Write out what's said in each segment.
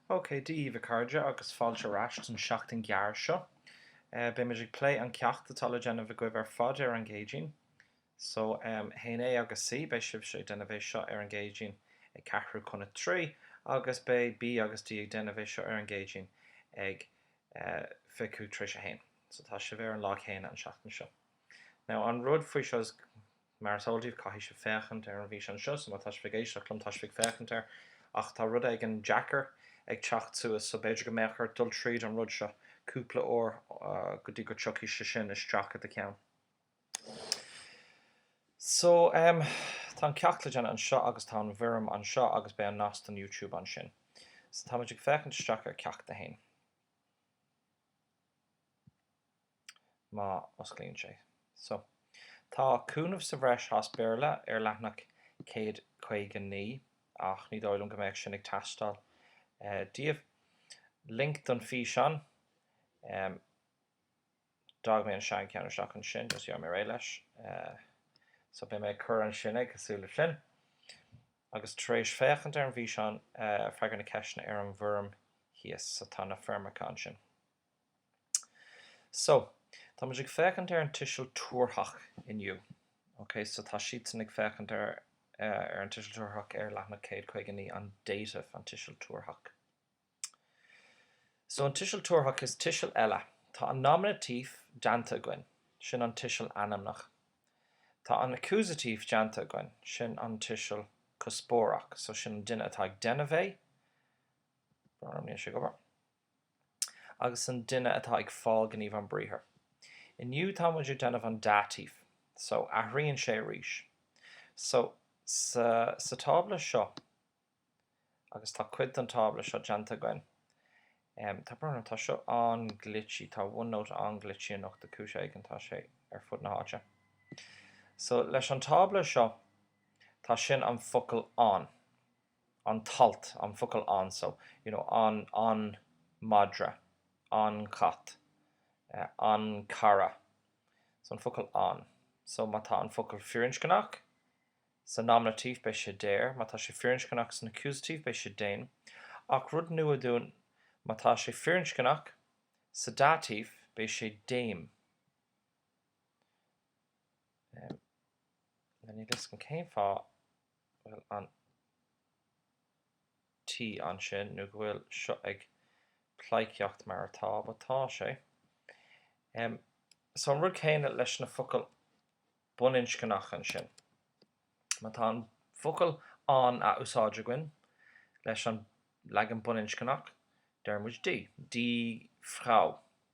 OK, Dia daoibh a chairde, agus fáilte ar ais don seachtain ghearr seo. Beidh muid ag plé an ceacht atá le déanamh agaibh ar fad ar an gCéadaoin. So, a haon A agus C, beidh sibhse ag déanamh é seo ar an gCéadaoin ag ceathrú chun a trí, agus beidh B agus D ag déanamh é seo ar an gCéadaoin ag fiche tar éis a haon. So, tá sibh ar an lá céanna an seachtain seo. Now, an rud faoi seo is. Mar is eol daoibh, caithfidh sibh féachaint ar an bhfíseán seo, so má tá sibh ag éisteacht liom, tá sibh ag féachaint air, ach tá rud éigin deacair ag teacht suas, so b'fhéidir go mbeadh ort dul tríd an rud seo cúpla uair go dtí go dtiocfaidh sé sin isteach i do cheann. So, em, tá an ceacht le déanamh anseo agus tá an bhfoirm anseo agus beidh an nasc don YouTube ansin. So táimid ag féachaint isteach ar Ceacht 1. má osclaíonn sé. So. Tá cúnamh sa bhreis as Béarla ar leathanach 159 ach ní dóigh liom go mbeadh sin ag teastáil daoibh. Link don físeán. D'fhág mé an seancheann isteach ansin, just gheobhaidh mé réidh leis. So beidh mé ag cur ansin, cosúil le sin. Agus tar éis féachaint ar an bhfíseán, freagair na ceisteanna ar an bhfoirm thíos. So tá na foirmeacha ansin. So, tá muid ag féachaint ar an tuiseal tabharthach inniu. Ok, so tá siadsan ag féachaint ar an tuiseal tabharthach ar leathanach 159, an dative, an tuiseal tabharthach. So an tuiseal tabharthach is tuiseal eile. Tá an nominative déanta againn, sin an tuiseal ainmneach. Tá an accusative déanta againn, sin an tuiseal cuspóireach, so sin an duine atá ag déanamh é. agus an duine atá ag fáil gníomh an briathar. Inniu tá muid ag déanamh an dative, so athraíonn sé arís. So, sa, sa tábla seo, agus tá cuid den tábla seo déanta againn, em, tá, tá seo an-glitchy, tá OneNote an-glitchy anocht ar chúis éigin, tá sé ar fud na háite. So, leis an tábla seo, tá sin an focal an. an t-alt, an focal an so, you know, an, an madra, an cat, an cara, so an focal an. So má tá an focal firinscneach sa nominative beidh sé der, má tá sé firinscneach san accusative beidh sé den, ach rud nua dúinn, má tá sé firinscneach sa dative beidh sé dem. Now níl a fhios agam cén fáth. bhfuil an T ansin nó go bhfuil seo ag pleidhcíocht mar atá, atá sé. So an rud céanna leis na focail baininscneacha ansin. Má tá an focal an a úsáid againn leis an leagan baininscneach, deirimid die, die Frau.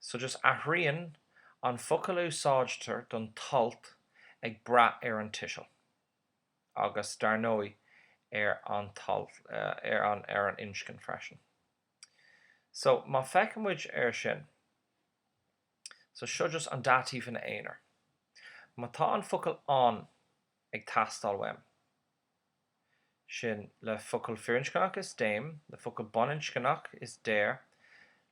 So just athraíonn an focal a úsáidtear don alt ag brath ar an tuiseal agus, dar ndóigh, ar an t-alt, ar an, ar an inscne freisin. So, má fheiceann muid ar sin, so seo just an Dativ ina aonar. Má tá an focal an ag teastáil uaim, sin, le focal firinscneach is dem, le focal baininscneach is der,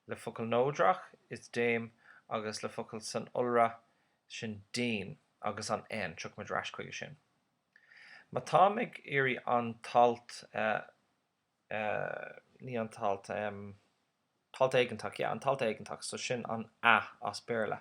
le focal neodrach is dem agus le focal san iolra sin den agus an n, tiocfaimid ar ais chuige sin. Má táim ag iarraidh an t-alt, ní an t-alt, t-alt éigeantach, yeah, an t-alt éigeantach, so sin an a as Béarla,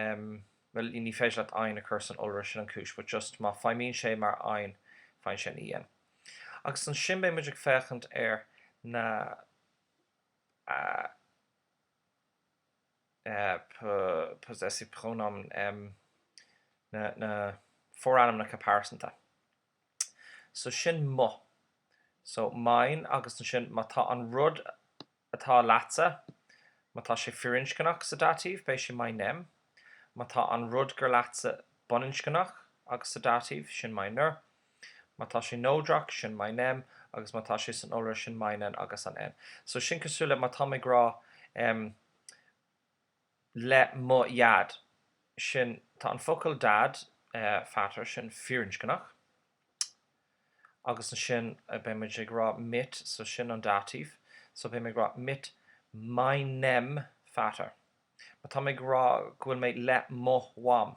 em bhuel ní féidir leat ein a chur san iolra sin an chúis but just má feidhmíonn sé mar ein faigheann sé an E N agus ansin beidh muid ag féachaint ar na eh po possessive pronomen em na na forainmneacha pearsanta so sin mo so mein agus ansin má tá an rud atá leatsa. Má tá sé firinscneach sa Dativ beidh sé meinem. Má tá an rud gur leatsa baininscneach agus sa Dativ, sin meiner. Má tá sé neodrach, sin meinem agus má tá sé san iolra, sin meinen agus an n. So sin cosúil le má táim ag rá em. le mo dheaid. Sin, tá an focal dad, Vater, sin firinscneach, agus ansin beidh mé ag rá mit, so sin an Dativ, so beidh mé ag rá mit meinem Vater. Má tá mé ag rá go bhfuil mé le mo mham.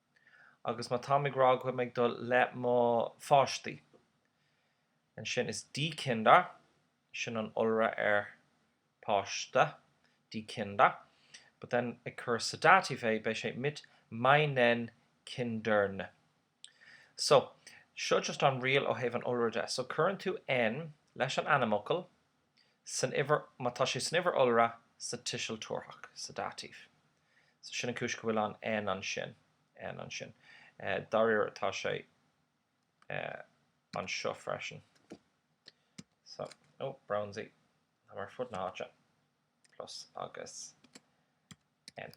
agus má táim ag rá go bhfuil mé ag dul le mo pháistí, ansin is die Kinder, sin an iolra ar páiste, die Kinder, but then ag cur sa Dativ é, beidh sé mit meinen Kindern. So, seo just an riail ó thaobh an iolra de. So, cuireann tú n leis an ainmfhocal. san uimhir, má tá sé san uimhir iolra, sa tuiseal tabharthach, sa Dativ. So sin an chúis go bhfuil an N ansin, N ansin. Dáiríre tá sé anseo freisin. So, ó, brónsies, tá mé ar fud na háite, plus agus N.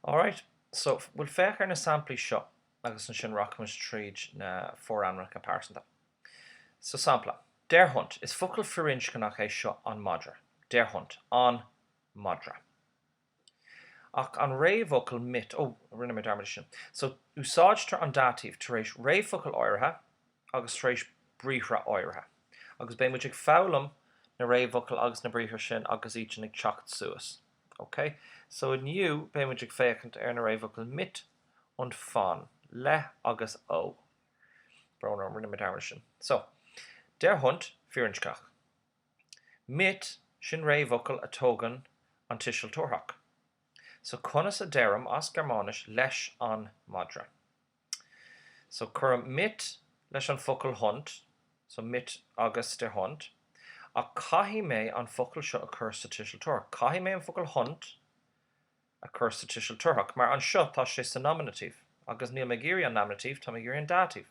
Alright, so, bhuel féach ar na samplaí seo agus ansin rachaimid tríd na forainmneacha pearsanta. So, sampla, der Hund, is focal firinscneach é seo an madra, der Hund, an madra. Ach an réamhfhocal mit, oh, rinne mé dearmad ar sin. So, úsáidtear an dative tar éis réamhfocal áirithe agus tar éis briathra áirithe. Agus beidh muid ag foghlaim na réamhfhocal agus na briathra sin agus iad sin ag teacht suas. OK, so inniu beidh muid ag féachaint ar na réamhfhocail mit und von, le agus ó. Brón orm, rinne mé dearmad air sin. So, der Hund, firinscneach. Mit, sin réamhfhocal a thógann an tuiseal tabharthach. So conas a deirim as Gearmáinis leis an madra? So cuirim mit leis an focal Hund, so mit agus der Hund, ach caithfidh mé an focal seo a chur sa tuiseal tabharthach, caithfidh mé an focal Hund a chur sa tuiseal tabharthach, mar anseo tá sé sa nominative, agus níl mé ag iarraidh an nominative, tá mé ag iarraidh an dative.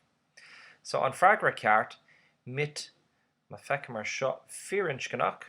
So an freagra ceart, mit, má feicim ar seo firinscneach,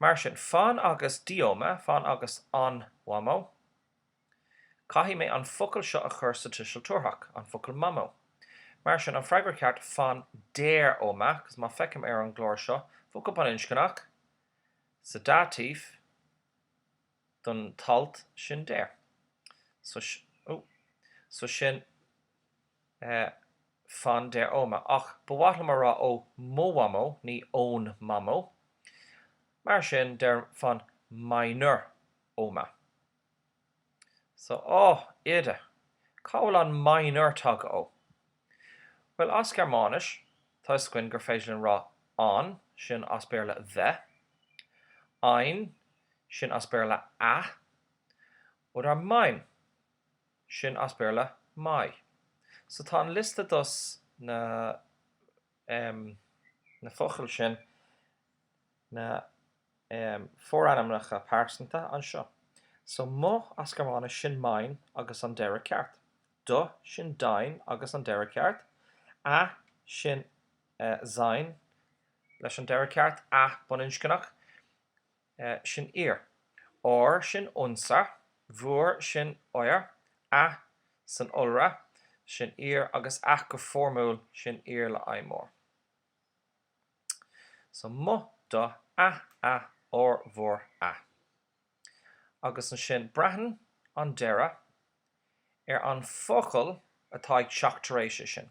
Mar sin, von agus die Oma, von agus an mhamó. Caithfidh mé an focal seo a chur sa tuiseal tabharthach, an focal mamó. Mar sin, an freagra ceart, von der Oma, agus má feicim ar an gclár seo, focal baininscneach sa dative don t-alt sin der. So, oh, so sin. von der Oma, ach ba mhaith liom a rá ó mo mhamó, ní ón mamó. Mar sin, deirim von meiner Oma. So, Á, Oide, cá bhfuil an meiner tagtha ó? Bhuel, as Gearmáinis, tá a fhios againn gur féidir linn rá an, sin as Béarla the, ein, sin as Béarla a, oder mein. sin as Béarla 'my'. So tá an liosta dos na em na focail sin, na em forainmneacha pearsanta anseo. So 'mo' as Gearmáinis sin 'mein' agus an deireadh ceart. 'Do' sin 'dein' agus an deireadh ceart. 'A' sin eh 'sein' leis an deireadh ceart, 'a' baininscneach. sin ihr. ár sin unser, bhur sin euer, a san iolra, sin ihr agus a go foirmiúil, sin Ihr le I mór. So mo do a a ár bhur a. Agus ansin braitheann an deireadh ar an bhfocal atá ag teacht tar éis é sin.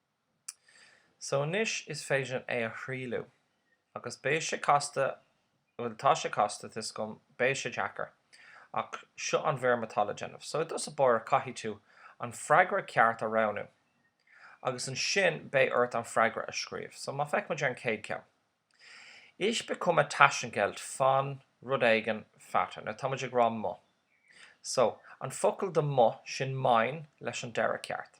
So anois is féidir é a thrialliú. Agus beidh sé casta, bhuel tá sé casta, tá 'fhios agam, beidh sé deacair. Ach seo an bhfoirm atá le déanamh. So i dtús báire caithfidh tú an freagra ceart a roghnú. Agus ansin beidh ort an freagra a scríobh. So má feicimid ar an chéad ceann. Ich bekomme Taschengeld von rud éigin Vater. Now táimid ag rá mo. So an focal do mo, sin mein leis an deireadh ceart.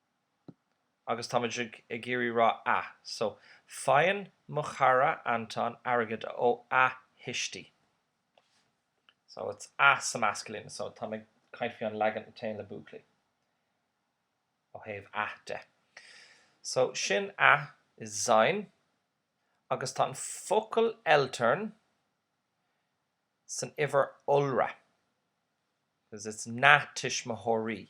agus táimid ag iarraidh rá a. So, faigheann mo chara Anton airgead ó a thuistí. So, it's a sa masculine. So, táim ag caint faoi an leagan a téann le buachaillí ó thaobh a de. So, sin a is sein agus tá an focal Eltern san uimhir iolra because it's na tuismitheoirí.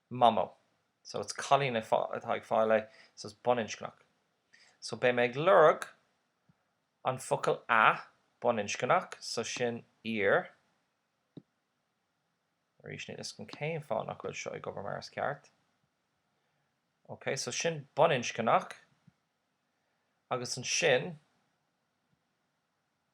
mamó. So it's cailín atá ag fáil é, so it's baininscneach. So beidh mé ag lorg an focal a, baininscneach, so sin ihr. Arís níl 'fhios agam cén fáth nach bhfuil seo ag obair mar is ceart. Ok, so sin baininscneach agus ansin,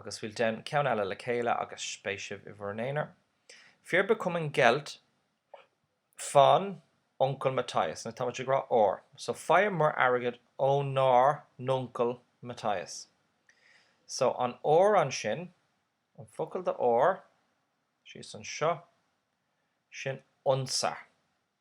Agus bhuel déan ceann eile le chéile agus beidh sibh i bhur n-aonar. Wir bekommen Geld von Onkel Matthias. Now tá muid ag rá ár so faigheamar airgead ónár n-uncail Matthias. So an ár ansin, an focal do ár, síos anseo, sin unser.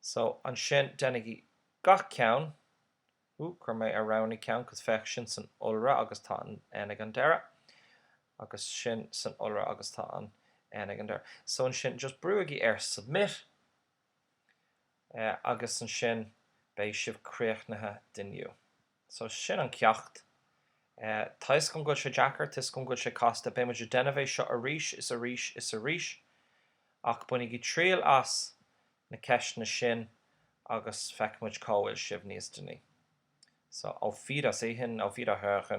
So, ansin, déanaigí gach ceann. Ooh, chuir mé an wrong ceann, cos féach, sin san iolra agus tá an N ag an deireadh. Agus sin san iolra agus tá an N ag an deireadh. So, ansin, just brúigí ar submit agus ansin beidh sibh críochnaithe d'inniu. So, sin an ceacht. Tá 'fhios agam go bhfuil sé deacair, tá 'fhios agam go bhfuil sé casta, beidh muid ag déanamh é seo arís is arís is arís. Ach bainigí triail as na ceisteanna sin agus feicfimid cá bhfuil sibh níos deanaí. So, auf Wiedersehen, auf Wiederhören.